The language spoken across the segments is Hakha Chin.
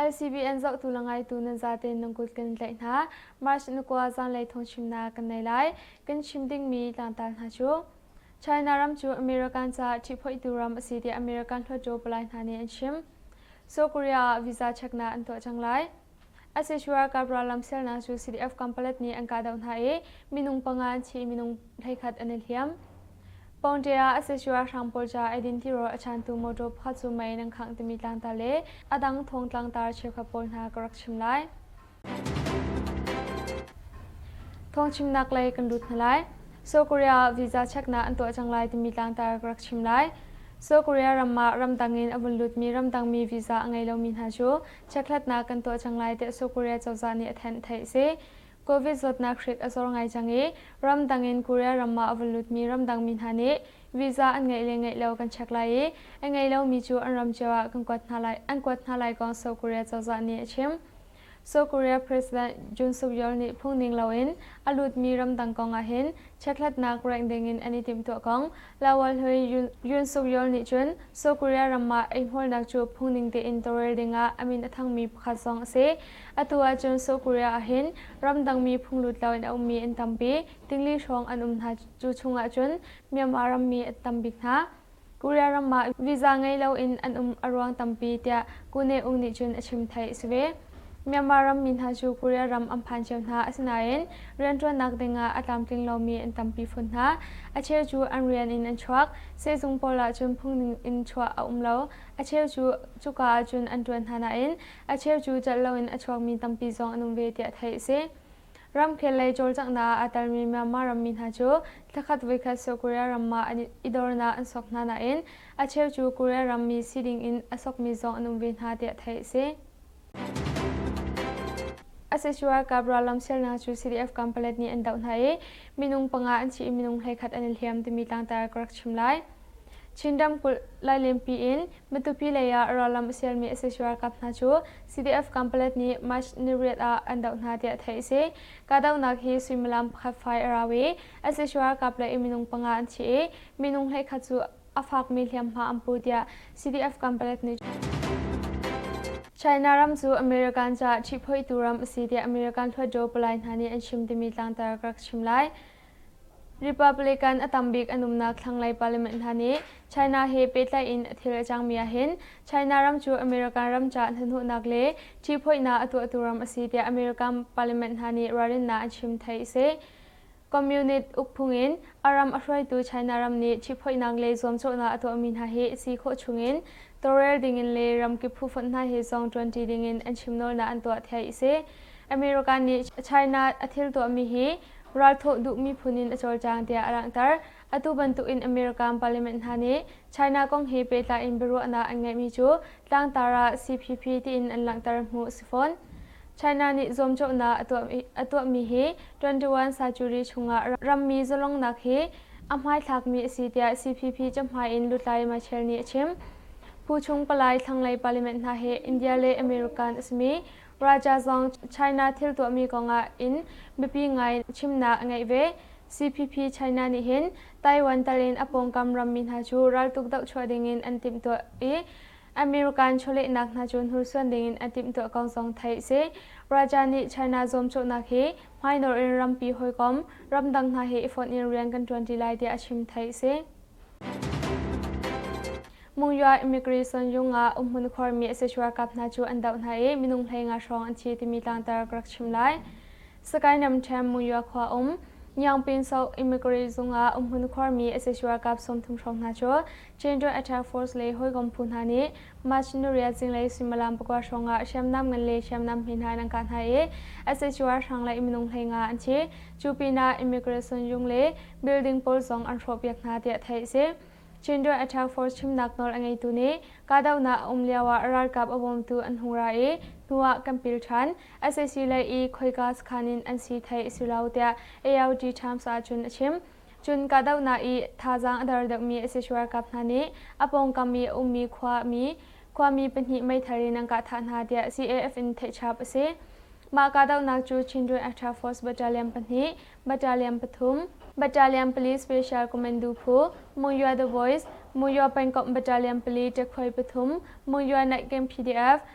ICBN zohtu le ngaitu nan zaten nan kut kan tlaih hna. March na kua zanlei thongchim na kan nei lai. Kan chim dingmi tlangtar hna cu. China ram cu American ca ṭhiphoihtu ram a si tiah American hlawtṭaw palai hna nih an chim. South Korea ah visa check na an tuah cang lai. Asishu ralkap rallam selnak cu CDF kampalet nih an kahdoh hna i minung panga an thi i minung hleikhat an i hliam. Pawngte ah Asishu ralhrang pawl ca eidin tiro a chantu mawtaw pakhat cu mei nan khangh timi tlangtar le a dang thong tlangtar cheukhat pawl hna ka rak chim lai. Thong chimnak lei kan lut hna lai. South Korea visa cheknak an tuah cang lai timi tlangtar ka rak chim lai. South Korea ram ah ramdang in a vun lutmi ramdangmi visa a ngei lomi hna cu Chekhlatnak kan tuah cang lai tiah South Korea cozah nih a thanh theih si. Covid zawtnak hrik a zor ngai cang i ramdang in Korea ram ah a vun lutmi ramdang mi hna nih visa an ngeih le ngeih lo kan check lai i a ngei lomi cu an ram cio ah kan kuat hna lai an kuat hna lai kong South Korea cozah nih a chim. South Korea President Jun Suk-yeol nih phungning loin a lutmi ramdang kong ahhin chekhlatnak rengh ding in an i timhtuah kong Lawal Hlui Yun Suk Yeol nih cun South Korea ram ah eihmualnak cu phungning tein tawlrel dingah a min a thangmi pakhat zong a si. Atu ahcun South Korea ahhin ramdangmi phunglut lo in a ummi an tampi, tingli hrawng an um hna. Cu chungah cun Myanmar rammi a tam bik hna. Korea ram ah visa ngei loin an um a ruang tampi tiah Kune Ung nih cun a chim theih a si ve. Myanmar rammi hna cu Korea ram an phan cio hna asinain rianṭuannak dingah a tlamtling lomi an tampi phun hna. A cheu cu an rian in an chuak, sehzung pawl ahcun phungning in chuah a um lo. A cheu cu cuka ahcun an ṭuan hna nain a cheu cu cat loin a chuakmi tampi zong an um ve tiah theih a si. Ramkhel lei cawlcanghnak aa telmi Myanmar rammi hna cu thlakhat voikhat sawh Korea ram ah an i dornak an sawk hna nain a cheu cu Korea rammi si dingin a sawkmi zong an um ve hna tiah theih a si. A si ralkap rallam sialnak cu CDF kampalet nih an doh hna i minung panga an thi i minung hleikhat an i hliam timi tlangtar ka rak chim lai. Chin ramkulh Lailenpi in Matupi lei ah ralram a sialmi sac ralkap hna cu CDF Kampalet nih March ni riat ah an doh hna tiah theih a si. Kahdohnak hi suimilam pakhat fai a rau i sac ralkap le minung panga an thi i minung hleikhat cu a fakmi hliamhma an pu tiah CDF Kampalet nih China ram cu American caah ṭhiphoitu ram a si tiah American hluatdaw palai hna nih an chim timi tlangtar ka rak chim lai. Republican a tambik an umnak thlanglei parliament hna nih China he pehtlai in a thil a cangmi ahhin China ram cu American ram caah hnahnawhnak le ṭihphoihnak a tuahtu ram a si tiah American parliament hna nih ralrinnak an chim theih a si. Communist ukphung in a ram a hruaitu China ram nih ṭihphoihnak le zuamcawhnak a tuahmi hna hi a si khawh chung in Tawrel dingin le ramkip phufonh hna he zong ṭuanṭi dingin an chimnawlnak an tuah thiai a si. America nih China a thil tuahmi hi ralthawh duh miphun in a cawlcang tiah a langhter. Atu bantukin America parliament hna nih China kong he pehtlai in biaruahnak an ngeihmi cu tlangtar ah CPP tiin an langhter hmuh a si fawn. China nih zuamcawhnak a tuahmi hi twenty one century chungah rammi zalongnak hi a hmaithlakmi a si tiah CPP cahmai in Lutlai Machel nih a chim. Phu chung palai thlanglei parliament hna hi India le American a simi Raja Zong China thil tuahmi kongah in biapi ngai chimnak a ngeih ve. CPP China nih hin Taiwan tal in a pawngkam rammi hna cu raltuk doh chuah dingin an timhtuah i American chawlehnak hna cu hnursuan dingin a timhtuah ko zong theih a si. Raja nih China zuamcawhnak hi hmainawr in rampi hawikom, ramdang hna he i fonh in rian kan ṭuan ṭi lai tiah a chim theih a si. Mungyaw Immigration Yung ah umhmun khuarmi sacuar kap hna cu an doh hna i minung hleinga hrawng an thi timi tlangtar ka rak chim lai. Sakae Namthiam Mungyaw khua um Nyangpin South Immigrant Zung ah umhmun khuarmi sacuar kap sawmthum hrawng hna cu General Attack Force le hawikom phu hna nih machinery a zinglei suimilam pakua hrawng ah hriamnam ngan le hriamnam hme hna an an kah hna i SHO ralhrang le minung hlei nga an thi. Cu pinah immigration yung le building pawl zong an hrawhpiak hna tiah theih a si. General Attack Force chimnak nawl a ngeitu nih kahdohnak a um lio ah ralkap a bawmtu an hung ra i hnu ah kan pil ṭhan. SAC lei i khoika sakhan in an si theih a si lo tiah ARD Times ahcun a chim. Cun kahdohnak i thazaang a dar deuhmi sac ralkap hna nih a pawngkam i a ummi khuami khuami pahnih meithal in an kah thah hna tiah CAF in theihchap a si. Mah kahdohnak cu Chindrin Extra Force Battalion pahnih, Battalion pathum, Battalion pali Special Commando phu, Munyua The Voice, Munyua Pengkomh Battalion pali ṭekhuai pathum, Munyua Night Camp PDF,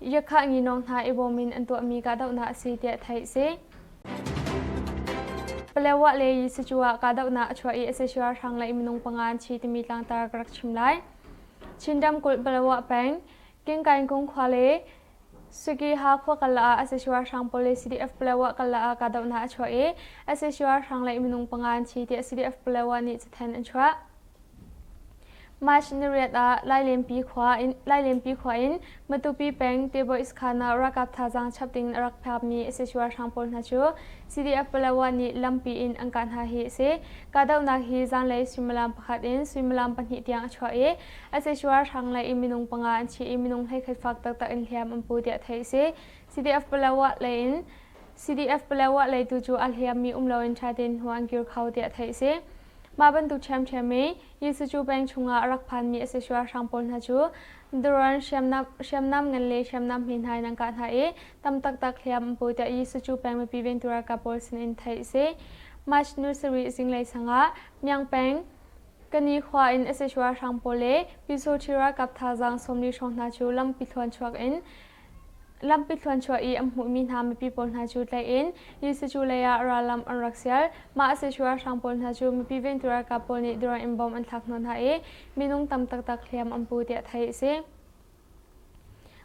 Yakhahngino hna i bawm in an tuahmi kahdohnak a si tiah theih a si. Palewah le Yisucu ah kahdohnak a chuah i SSR hrang le minung panga an thi timi tlangtar ka rak chim lai. Chin ramkulh Palewah peng Kingkaingkung khua le Sukiha khua kala ah SSR hrang police CDF Palewah kala ah kahdohnak a chuah i SSR hrang le minung panga an thi tiah CDF Palewah nih cathanh an chuah. march-nariat ah lailenpi khua in matupi peng teboiskana ralkap thazaang chap ding a rak phakmi sacuar hrang pawl hna cu cdf-palawan nih lampi in an kah hna hi a si kahdohnak hi zanlei suimilam pakhat in suimilam pahnih tiang a chuah i a sacuar hrang lei i minung panga an thi i minung hleikhat fak taktak in hliam an pu tiah theih a si cdf-palawa leitu cu a hliammi um loin ṭha tein hnu an kir kho tiah theih a si Mah bantuk ṭhiamṭhiam i Jesuh cu peng chungah a rak phanmi a si sualhrang pawl hna cu daruan hriamnam hriamnam ngan le hriamnam hme hna in an kah hna i tam taktak hliam an pu tiah Jesuh cu peng mipi vengtu ralkap pawl sinin theih a si. March ni sarih zinglei sangah Myang peng Kani khua in a si sualhrang pawl le Pyusawṭhi ralkap thazaang sawmli hrawng hna cu lampi thluan chuak in Lampi thluanchuah i an hmuhmi hna mipi pawl hna cu tlaih in Jesuh cu lei ah rallam an rak sial. Mah a si cu ralhrang pawl hna cu mipi ventu ralkap pawl nih durang in bom an thlak hna hna i minung tam taktak hliam an pu tiah theih a si.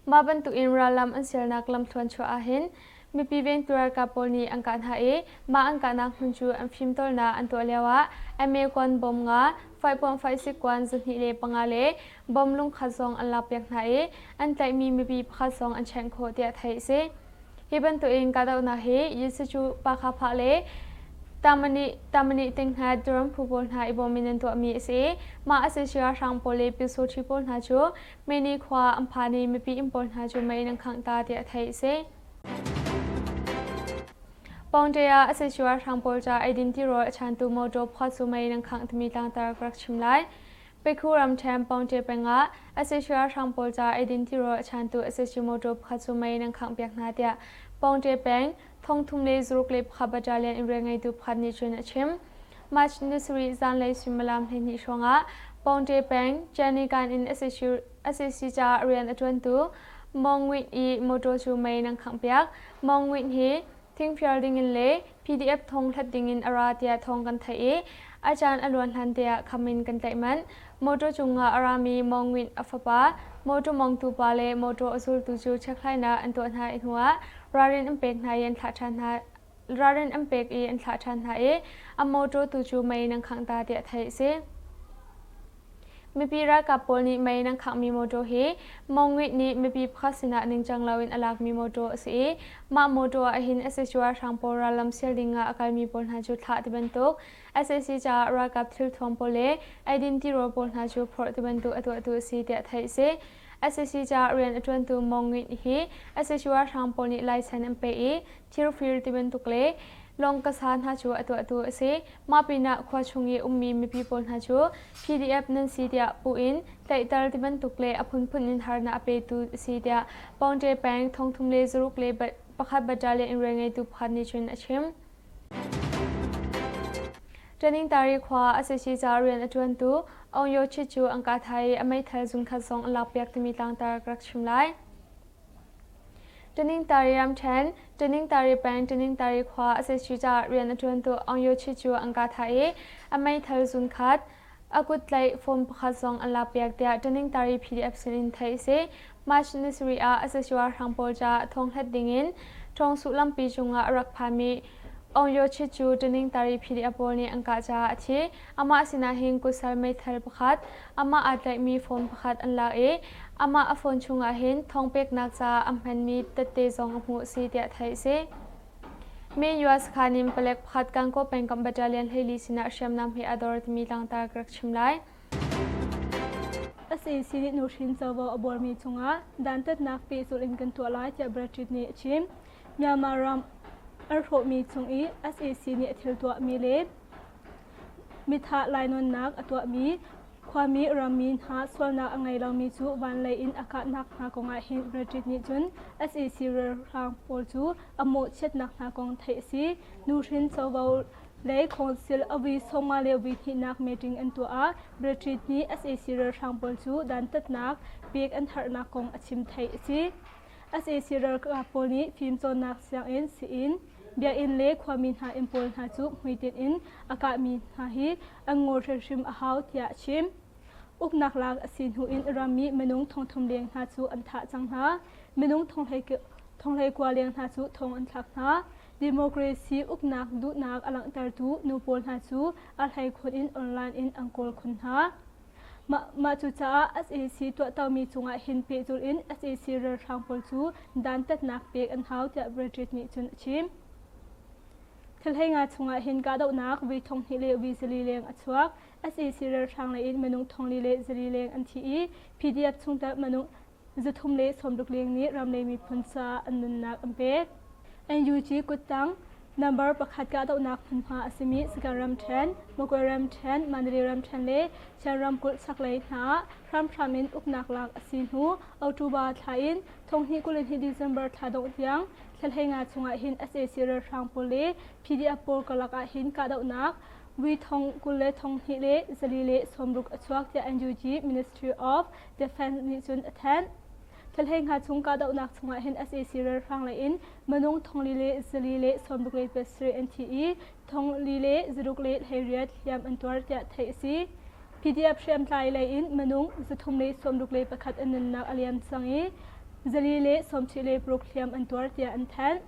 Mah bantuk in rallam an sialnak lamthluan chuah ah hin Mipi vengtu ralkap pawl nih an kah hna i mah an kahnak hmun cu an fimtawlnak an tuah lioah MA kuan bom nga, faipuangfai sik kuan zahnih le panga le bom lungkhat zong an lakpiak hna i an tlaihmi mipi pakhat zong an chenh khawh tiah theih a si. Hi bantukin kahdohnak hi Yisuzu Pakhaphah le Tamani Tinghna Duram phu pawl hna i bawm in an tuahmi a si i mah a si sui ralhrang pawl le pyesaw ṭhi pawl hna cu Meni khua an phan i mipi inn pawl hna cu mei nan khangh ta tiah theih a si. Pawngṭe ah a si cuar hrang pawl ca eidin tirawl a chantu motor phua cu mei nan khangh timi tlangtar ka rak chim lai. Pekhu ramṭhen Pawngṭe peng ah a si cuar hrang pawl ca eidin tirawl a chantu a si cu motor phua cu mei nan khangh piak hna tiah Pawngṭe peng thong thum le zaruk le pakhat battalion in rian ngeitu pakhat nih cun a chim. March ni sarih zanlei suimilam hleihnih hrawngah Pawngte peng Canikan in SAC caah rian a ṭuantu Mong Win i mawṭaw cu mei nan khanghpiak. Mong Win hi thingfial dingin le PDF thong hlat dingin a ra tiah thawng kan theih i a caan a luan hlan te ah kham in kan tlaih manh. Motor cungah a rami Mawngwin a fapa, motor mawngtupa le motor a zultu cu chekhlainak an tuah hna i hnuah ralrin an pek hna i an thlah ṭhan hna. Ralrin an pek i an thlah ṭhan hna i a motor tu cu mei nan khangh ta tiah theih a si. Mipi ralkap pawl nih mei nan khanghmi motor hi Mawngwin nih mipi pakhat sinah ningcang loin a lakmi motor a si i mah motor ahhin a sicuai hrang pawl rallam sial dingah a kalmi pawl hna cu thlah ti bantuk sac caah ralkap thilthuam pawl le eidin tirawl pawl hna cu phorh tibantuk a tuahtu a si tiah theih a si. sac caah rian a ṭuantu Mong Ngit hi sac ralhrang pawl nih laisen an peh i thirfir tibantuk le lawng kasa hna cu a tuahtu a si. Mah pinah khua chung i ummi mipi pawl hna cu PDF nan si tiah puh in tlaihter tibantuk le a phunphun in harnak a petu a si tiah Pawngṭe peng thong thum le zaruk le pakhat battalion in rian ngeitu pakhat nih cun a chim. Ṭaningtari khua a si si caah rian a ṭuantu Aung Yo Chit cu an ka thai i a meithal zungkhat zong a lak piak timi tlangtar ka rak chim lai. Ṭaningtari ramṭhen, Ṭaningtari peng, Ṭaningtari khua a si si caah rian a ṭuantu Aung Yo Chit cu an ka thai i a meithal zungkhat a kut tlaih form pakhat zong an lakpiak tiah ṭaningtari PDF sinin theih a si. March ni sarih ah Asasua hrang pawl ca thonghlet dingin ṭhawng sullampi cungah a rak phami Aung Yo Chit cu ṭaningtari PDF pawl nih an kah caah a thi. Amah sinah hin kusal meithal pakhat, amah aa tlaihmi form pakhat an lak i amah a phone chungah hin thawng peknak caah an hmanmi tette zong a hmuh a si tiah theih a si. Min US khan in palek pakhat Kankaw pengkamh battalion hleili sinah hriamnam he a dor timi langhter ka rak chim lai. Asi sini nuhrin covo a bormi chungah dantatnak pehzulh in kan tuah lai tiah Brexit nih a chim. Myanmar ram an hrawhmi chung i SAC nih a thil tuahmi le mithah lainawnnak a tuahmi Khuami rammi hna sualnak a ngei lomi cu van lei in a kahnak hna kongah hi Reddit nih cun sac ralhrang pawl cu a mawhchiatnak hna kong theih a si. Nuhrin covo lei council a vui sawmnga le vui hnihnak meeting an tuah ah Reddit nih sac ralhrang pawl cu dantatnak pek an harhnak kong a chim theih a si. sac ralkap pawl nih fimcawnnak sianginn sii-inn, biakinn le khuami hna inn pawl hna cu hmuitinh in a kahmi hna hi an ngol hrimhrim a hau tiah a chim. Uknak lak a si hnu in ram i minung thongthum leng hna cu an thah cang hna. Minung thonglei kua leng hna cu thong an thlak hna. Democracy uknak duhnak a langhtertu nu pawl hna cu a hlei khun in online in an kawl khun hna. Mah cucaah SAC tuahtomi cungah hin pehzulh in SAC ralhrang pawl cu dantatnak pek an hau tiah Brexit nih cun a chim. Thilheinga chungah hin kahdohnak vi thong hnih le vi zali leng a chuak. SEC ralhrang lei in minung thong li le zali leng an thi i PDF chungtel minung zuthum le sawmruk leng nih ramlei miphun caah an nunnak an pek. NUG kuttang number pakhat kahdohnak hmunhma a simi Sagaing ramṭhen, Magway ramṭhen, Mandalay ramṭhen le Sian ramkulh chaklei hna ah hramhram in uknak lak a si hnu October thla in thong hnih kul in hi December thla dongh tiang Thlahlei nga chungah hin SAC ralhrang pawl le PDF pawl karlak ah hin kahdohnak Wi thong kul le thong hnih le zali le sawmruk a chuak tiah NUG Ministry of Defense nih cun a thanh. Thlahlei nga chung kahdohnak chungah hin SAC ralhrang lei in minung thongli le zali le sawmruk le pasarih an thi i thong li le zaruk le hleiriat hliam an tuar tiah theih a si. PDF hriamtlai lei in minung zathum le sawmruk le pakhat an nunnak a liam cang i zali le sawmchih le paruk hliam an tuar tiah an thanh.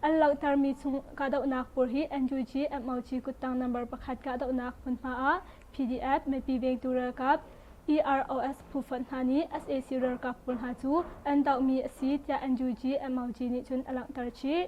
An langhtermi chung kahdohnak pur hi NUG MOG kuttang number pakhat kahdohnak hmunhma ah PDF mipi vengtu ralkap EROS phufonh hna nih sac ralkap pawl hna cu an dohmi a si tiah NUG MOG nih cun a langhter chih.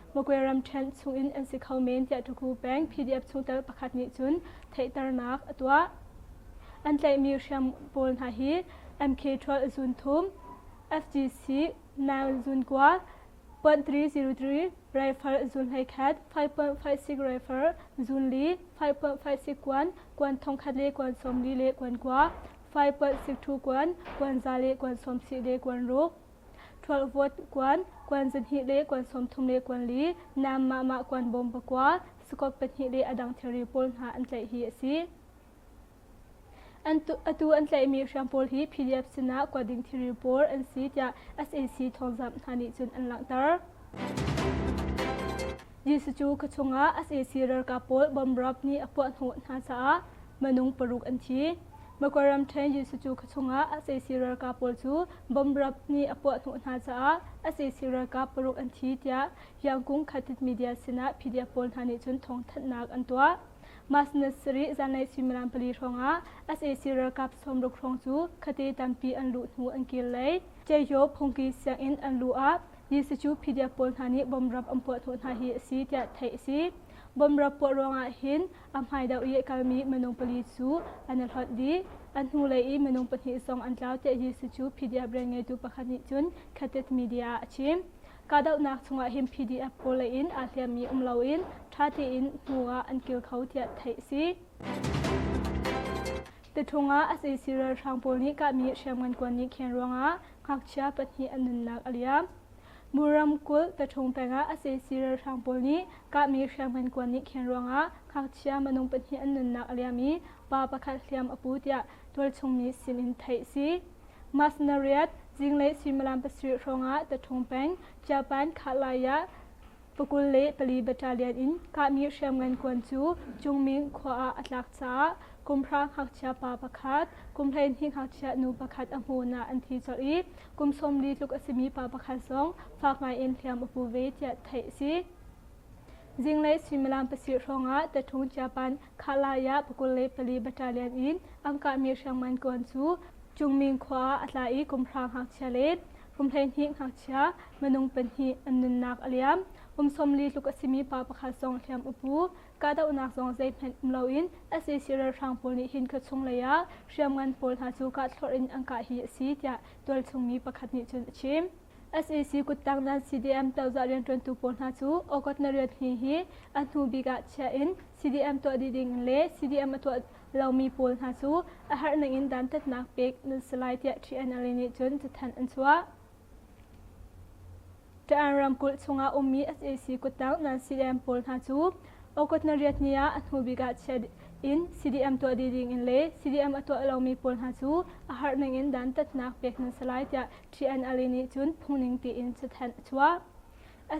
Magway ramṭhen chungin an si kho men tiah Tuku peng PDF chungtel pakhat nih cun theihternak a tuah. An tlaihmi hriam pawl hna hi MK12 zun thum, SGC 9 zun kua, 0.303 rifle zun hleikhat, 5.56 rifle zun li, 5.56 kuan, kuan thongkhat le kuan sawm li le kuan kua, 5.62 kuan, kuan za le kuan sawm sih le kuan ruk, Ṭhual vawt kuan, kuan zarhhnih le kuan sawmthum le kuan li, naam mahmah kuan bawm pakua, sakawt pahnih le a dang thilri pawl hna an tlaih hi a si. Atu an tlaihmi hriam pawl hi PDF sinah kuat ding thilri pawl an si tiah SAC thawngzamh hna nih cun an langhter. Jesuh cu kha chungah sac ralkap pawl bom rap nih a puah hnawh hna caah minung paruk an thi. Makwaram ṭhen Jesuh cu kha chungah sac ralkap pawl cu bom rap nih a puah hnawh hna caah sac ralkap paruk an thi tiah Yangkung Khatit media sinah PDF pawl hna nih cun thawngthanhnak an tuah. Mas ni sarih zanlei suimilam pali hrawngah sac ralkap sawmruk hrawng cu khatte tampi an luh hnu an kir lei Ceyo phungki sianginn an luh ah Hi sicu PDF pawl hna nih bomrap an puah thawh hna hi a si tiah theih a si. Bomrap puah ruangah hin a hmai deuh i a kalmi minung pali cu an i hlonh dih. A hnulei i minung pahnih zong an tlau tiah hi sicu PDF rian ngeitu pakhat nih cun Khatet Media ah a chim. Kahdohnak chungah hin PDF pawl leiin aa hliammi um loin ṭha tein hnu ah an kir kho tiah theih a si. Tathung ah sac ralhrang pawl nih kahmi hriamngan kuan nih khen ruangah Ngakchia pahnih an nunnak a liam. Mu ramkulh Tathung pengah SAC ralhrang pawl nih kahmi hriamngan kuan nih khen ruangah ngakchia minung pahnih an nunnak a liam i pa pakhat hliam a pu tiah tualchungmi sin in theih a si. Mas nariat zinglei suimilam pasarih hrawngah Tathung peng Chiapan Khatlai ah Pakul le pali battalion in kahmi hriamngan kuan cu Cungming khua ah a tlak caah kumhra ngakchia pa pakhat, kum hleihnih ngakchia nu pakhat a hmun ah an thi colh i kum sawmli tluk a simi pa pakhat zong fak ngaiin hliam a pu ve tiah theih a si. Zinglei suimilam pasir hrawngah Tatung Chiapan Khalaya pakul le pali battalion in an kahmi hriamngan kuan cu Cungming khua ah a tla i kumhra ngakchia le kum hleihnih ngakchia Minung pahnih an nunnak a liam. Kum sawmli tluk a simi pa pakhat zong hliam upu. Kahdohnak zong zeihmanh um loin sac ralhrang pawl nih hin khua chunglei ah hriamngan pawl hna cu kahthlorh in an kah hi a si tiah tualchungmi pakhat nih cun a chim. SAC kuttang nan CDM cozah rianṭuantu pawl hna cu August na riat ni hi a hnu bik ah chiah in CDM tuah dih ding le CDM a tuah lomi pawl hna cu a harh ning in dantatnak pek nan si lai tiah TNLA nih cun cathanh an chuah. Ṭa'an ramkulh chungah a ummi sac kuttang nan CDM pawl hna cu August nariat ni ah a hnubik ah chiah in CDM tuah dih dingin le CDM a tuah lomi pawl hna cu a harh ningin dantatnak pek nan si lai tiah TNLA nih cun phungning tiin cathanh a chuah.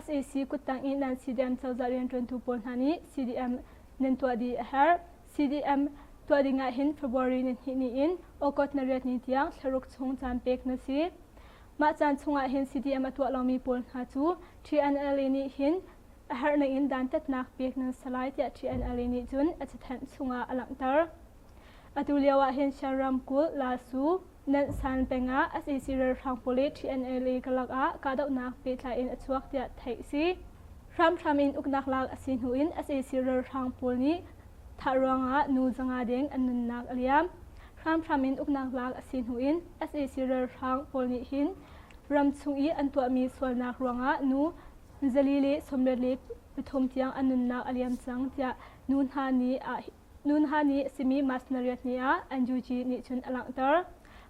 sac kuttang i nan CDM cozah rianṭuantu pawl hna nih CDM nan tuah dih a herh. CDM tuah ding ahhin February ni hnih ni in August nariat ni tiang thlaruk chung caan pek na si. Mah caan chungah hin CDM a tuah lomi pawl hna cu TNLA nih hin a harhnak in dantatnak pek nan si lai tiah TNLA nih cun a cathanh chungah a langhter. Atu lioah hin Shan ramkulh Lasu, Nansan peng ah sac ralhrang pawl i TNLA ka lakah kahdohnak pehtlai in a chuak tiah theih a si. Hramhram in uknak lak a si hnu in sac ralhrang pawl nih thah ruangah nu zanga deng an nunnak a liam. hramhram in uknak lak a si hnu in sac ralhrang pawl nih hin ram chung i an tuahmi sualnak ruangah nu zali le sawmlet le pathum tiang an nunnak a liam cang tiah nu hna nih nu hna nih simi masnariat ni ah NUG nih cun a langhter.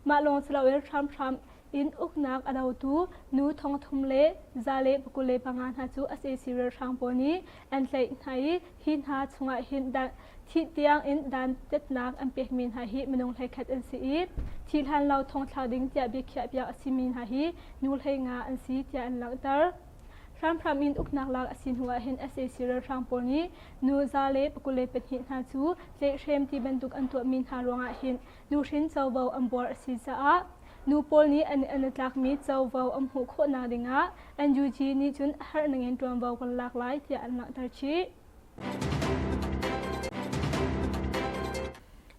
Mah lawng si loin hramhram in uknak a dotu nu thong thum le za le pakul le panga hna cu sac ralhrang pawl nih an tlaih hna i hi hna chungah hin dan thih tiang in dantatnak an pekmi hna hi minung hleikhat an si i thi hlan lo thong thlak ding tiah biakhiah piak a simi hna hi nu hlei nga an si tiah an langhter hramhram in uknak lak a si hnu ah hin sac ralhrang pawl nih nu za le pakule pahnih hna cu tlehrem ti bantuk an tuahmi hna ruangah hin nuhrin covo an buar a si caah nu pawl nih an an a tlakmi covo an hmuh khawhnak dingah NUG nih cun a harh nangin ṭuanvo kan lak lai tiah an langhter chih.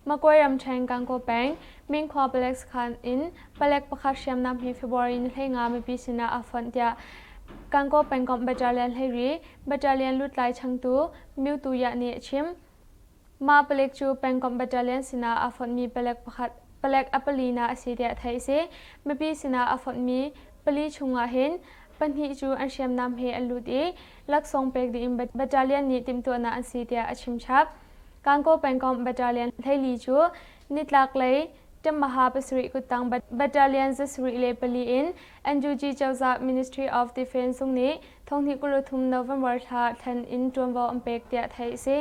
Makwe ramṭhen Gangaw peng Minkhua palek sakhan in palek pakhat hriamnam hi February ni hlei nga mipi sinah a fonh tiah Gangaw pengkomh battalion hlei ri battalion lutlai changtu Myu Tu Yah nih a chim. Mah palek cu pengkomh battalion sinah aa fonhmi palek pakhat, palek a pali na a si tiah theih a si. Mipi sinah aa fonhmi pali chungah hin pahnih cu an hriamnam he an lut i laksawng pek ding in battalion nih timhtuahnak an si tiah a chimchap. Kankaw pengkomh battalion hleili cu nitlaklei ṭemmaha pasarih kuttang battalion zasarih le pali in NUG cozah Ministry of Defence zung nih thonghnih kul le thum November thla thlen in ṭuanvo an pek tiah theih a si.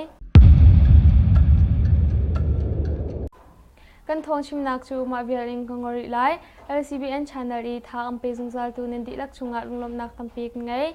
Kan thawng chimnak cu mah vial in ka ngol rih lai. LCBN channel i tha an pe zungzal tu nan dihlak chungah lunglawmhnak tampi kan ngei.